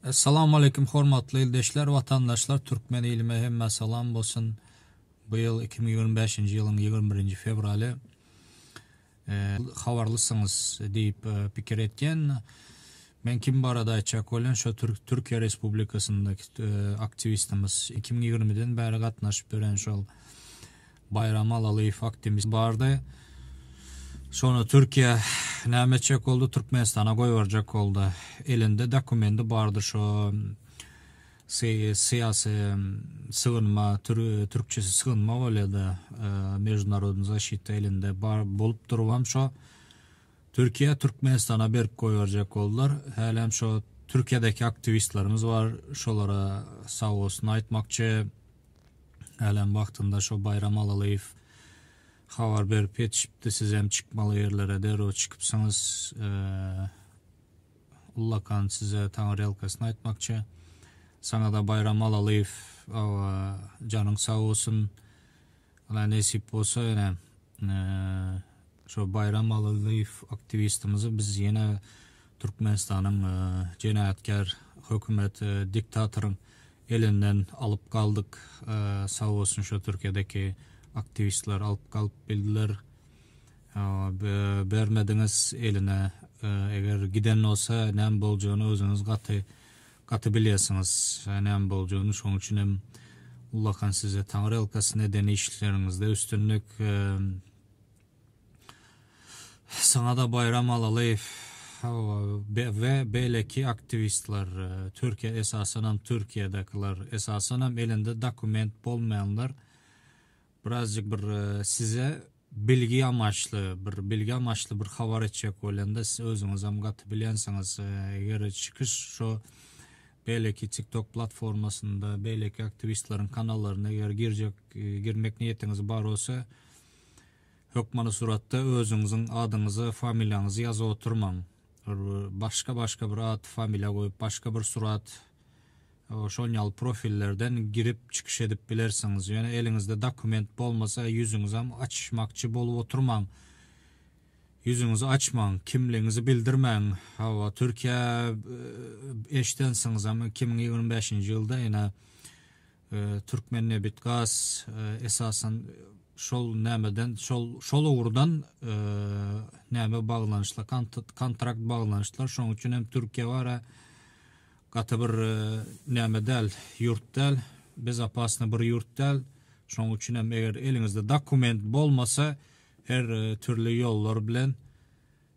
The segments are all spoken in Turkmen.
Essalamu aleýkum hormatly ildeşler, watandaşlar, türkmen ilime hemmä salam bolsun. Bu ýyl iki müň ýigrimi bäşinji ýylyň ýigrimi birinji fewraly. Habarlysyňyz diýip pikir etýän. Men kim barada aýtjak bolýan şo Türkiýe Respublikasyndaky aktiwistimiz iki müň ýigrimi den bäri gatnaşyp ýören şol Baýram Alalyýew aktimist bardy. Şony Türkiýe näme etjek boldy Türkmenistana goýberjek boldy. Elinde dokumendi bardy şo syýasy sygynma türkçesi sygynma bolýada mejbunarodny zaşita elinde bar bolup durubam şo Türkiýe Türkmenistana berip goýberjek boldylar. Hälem şo Türkiýedeki aktiwistlerimiz bar şolara sag bolsun aýtmakçy. Hälem wagtynda şo Baýram Alalyýew habar berip ýetişipdi, sizem çykmaly ýerlere derrew çykypsyňyz. Ullakan size taňyrýalkasyn aýtmakçy. Saňa-da Baýram Alalyýew aga janyň sag bolsun. Ala nesip bolsa ýene şo Baýram Alalyýew aktiwistimizi biz ýene Türkmenistanyň jenaýatkär hökümet diktatoryň Elinden alyp galdyk sag bolsun şo Türkiýedeki aktiwistler alyp galyp bildiler bermediňiz eline eger giden bolsa näme boljagyny özüňiz gaty gaty bilýärsiňiz näme boljagyny şoň üçin hem ullakan size taňyrýalkasy neden işleriňizde üstünlik. Saňa-da Baýram Alalyýew we beýleki aktiwistler, Türkiýe esasanam Türkiýedekiler, esasanam elinde dokument bolmaýanlar birazjyk bir size bilgi amaçly, bir bilgi amaçly bir habar etjek bolanda siz özüňizem gaty bilýänsiňiz eger çykyş şo beýleki TikTok platformasynda beýleki aktiwistleriň kanallaryna eger girjek girmek niýetiňiz bar bolsa Hökmany suratda özüňiziň adyňyzy, familiýaňyzy ýazyp oturmaň. Başga başga bir at, familiýa goýup başga bir surat şon ýaly profillerden girip çykyş edip bilersiňiz. Ýöne eliňizde dokument bolmasa ýüzüňizem açyşmakçy bolup oturmaň. Ýüzüňizi açmaň, kimligiňizi bildirmäň. Hawa Türkiýe eşidensiňizem iki müň ýigrimi bäşinji ýylda ene Türkmennebitgaz esasan şol nämeden şol şol ugurdan näme baglanyşly kontrakt baglanyşdylar. Şonuň üçin hem Türkiýe bara gaty bir näme däl, ýurt däl, bezopasny bir ýurt däl. Şonuň üçin hem eger eliňizde dokument bolmasa, her türli ýollar bilen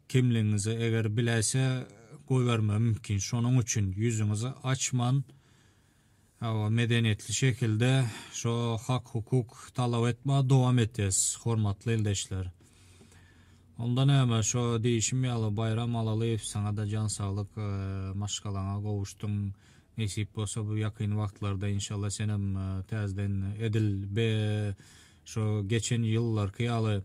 kimligiňizi eger biläýse goýberme mümkin. Şonuň üçin ýüzüňizi açman Hawa, medeniýetli şekilde şo hak-hukuk talap etmä dowam etyäs, hormatly ildeşler. Onda näme, şo diýişim ýaly, Baýram Alalyýew, saňa-da jan saglyk, maşgalaňa gowuşdyň, nesip bolsa bu ýakyn wagtlarda, inşallah, senem täzeden edil be, şo geçen ýyllarky ýaly,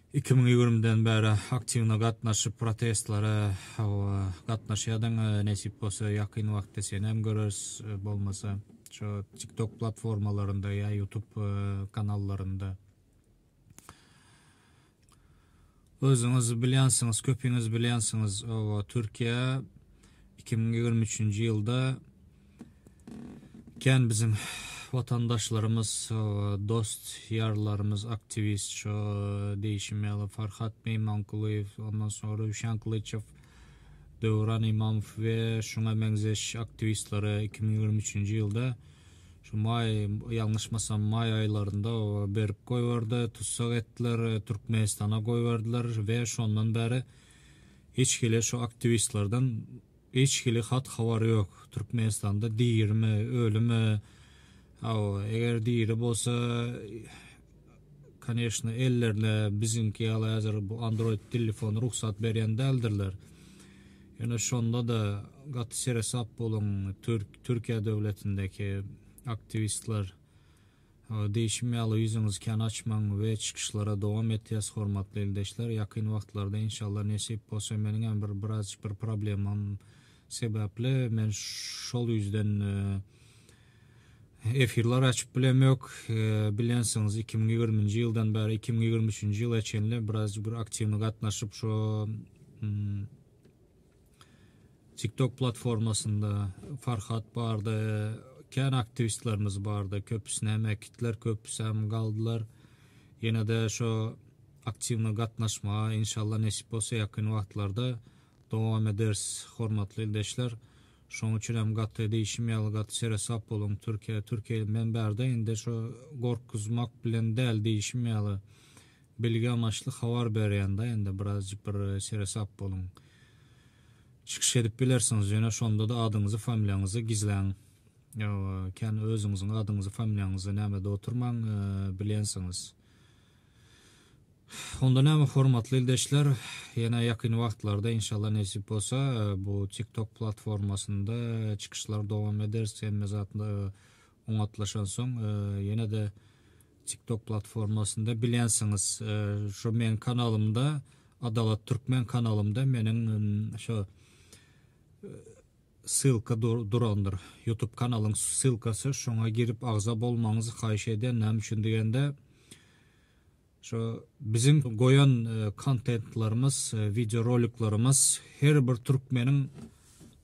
Iki müň ýigrimiden bäri aktiwna gatnaşyp protestlere hawa gatnaşýadyň nesip bolsa ýakyn wagtda senem göreris bolmasa şo tik tok platformalarynda ýa ýutup kanallarynda özüňiz bilýänsiňiz köpiňiz bilýänsiňiz hawa türkiýe iki müň ýigrimi üçünji ýylda Kän biziň watandaşlarymyz, dost ýarlarymyz aktiwist şo diýişim ýaly Farhat Meýmankulyýew, ondan soň Röwşen Kylyçow, Döwran Imamow we şuňa meňzeş aktiwistlere iki müň ýigrimi üçünji ýylda şu maý ýalňyşmasam maý aýlarynda berip goýberdi, tussag etdiler, Türkmenistana goýberdiler we şondan bäri hiç hili şu aktiwistlerden Hiç hili hat habar yok Türkmenistanda dirimi ölimi hawa eger diri bolsa koneşno ellerine biziňki ýaly häzir bu android tillifony rugsat berýän däldirler ýöne şonda da gaty seresap boluň türk türkiýe döwletindeki aktiwistler Diýşim ýaly ýüzüňizi kän açmaň we çykyşlara dowam etýäs hormatly ildeşler ýakyn wagtlarda inşallah nesip bolsa meniň hem bir biraz bir problemam sebäpli men şol ýüzden efirler açyp bilem ýok bilensiňiz iki müň ýigirminji ýyldan bäri iki müň ýigrimi üçünji ýyla çenli biraz bir aktiwny gatnaşyp şo TikTok platformasynda Farhat bardy, kän aktiwistlerimiz bardy, köpüsini hem äkitdiler, köpüsi hem galdylar. Ýene-de şo aktiwna gatnaşmaga inşallah nesip bolsa ýakyn wagtlarda dowam ederis, hormatly ildeşler. Şonuň üçin hem gaty diýşim ýaly gaty seresap boluň, Türkiýe, Türkiýe bilen bärde indi şo gorkuzmak bilen däl diýşim ýaly, Bilgi amaçly habar berýän da indi birazjyk bir seresap boluň. Çykyş edip bilersiňiz ýöne şondada adyňyzy familiýaňyzy gizläň. Ýoga kän özüňiziň adyňyzy familiýaňyzy nämede oturmaň bilýänsiňiz. Onda näme hormatly ildeşler ýene ýakyn wagtlarda inşallah nesip bolsa bu tiktok platformasynda çykyşlar dowam ederis hemme zat Oňatlaşansoň ýene-de TikTok platformasynda bilensiňiz. Şu meň kanalymda Adalat Türkmen kanalymda meniň şo ssylka durandyr. Youtube kanalyň ssylkasy şoňa girip agza bolmagyňyzy haýyş edýän. Näme üçin diýende Şu biziň goýan kontentlarymyz, wideo roliklarymyz her bir türkmeniň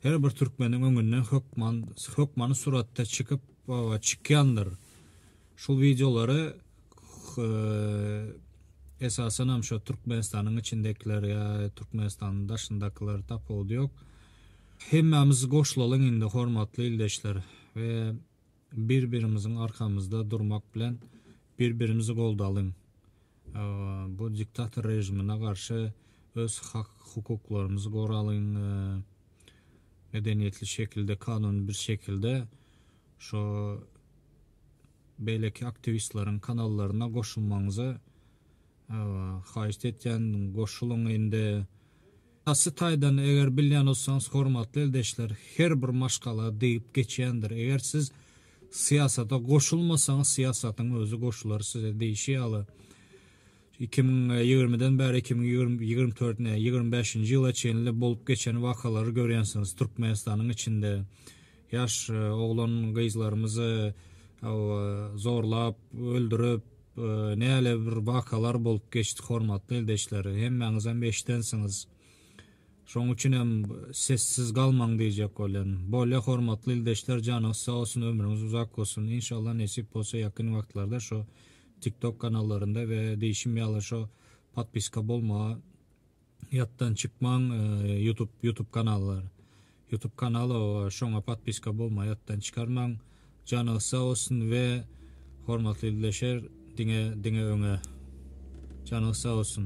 her bir türkmeniň öňünden hökman hökmany suratda çykyp we çykýandyr. Şul wideolary esasan hem şu Türkmenistanyň içindekiler ýa Türkmenistanyň daşyndakylar tapawudy ýok. Hemmämiz goşulalyň indi hormatly ildeşler we Bir-birimiziň arkamyzda durmak bilen bir-birimizi goldalyň. Bu diktator režimine garşy öz hak-hukuklarymyzy goralyň. Medeniýetli şekilde, kanuny bir şekilde şu beýleki aktiwistleriň kanallaryna goşulmagyňyzy haýyşt etýän. Goşulyň indi. Şahsy taýdan eger bilýän bolsaňyz hormatly ildeşler her bir maşgala diýip geçýändir eger siz syýasata goşulmasaňyz syýasatyň özi goşular size diýşi ýaly iki müň ýigrimiden bäri iki müň ýigrimi dört ne ýigrimi bäşinji ýyla çenli bolup geçen wakalary görýänsiňiz türkmenistanyň içinde Ýaş oglan gyzlarymyzy zorlap öldürip näle bir wakalar bolup geçdi hormatly ildeşler hemmäňizem eşidensiňiz şoň üçinem sessiz galmaň diýjek bolýan bolýa hormatly ildeşler janyňyz sag bolsun ömrüňiz uzak bolsun inşallah nesip bolsa ýakyn wagtlarda şo tiktok kanallarynda we diýşim ýaly şo podpiska bolmagy Ýatdan çykmaň ýutub ýutub kanallar ýutub kanala şoňa patpiska bolma ýatdan çykarmaň janyňyz sag bolsun we hormatly ildeşer diňe diňe öňe janyňyz sag bolsun.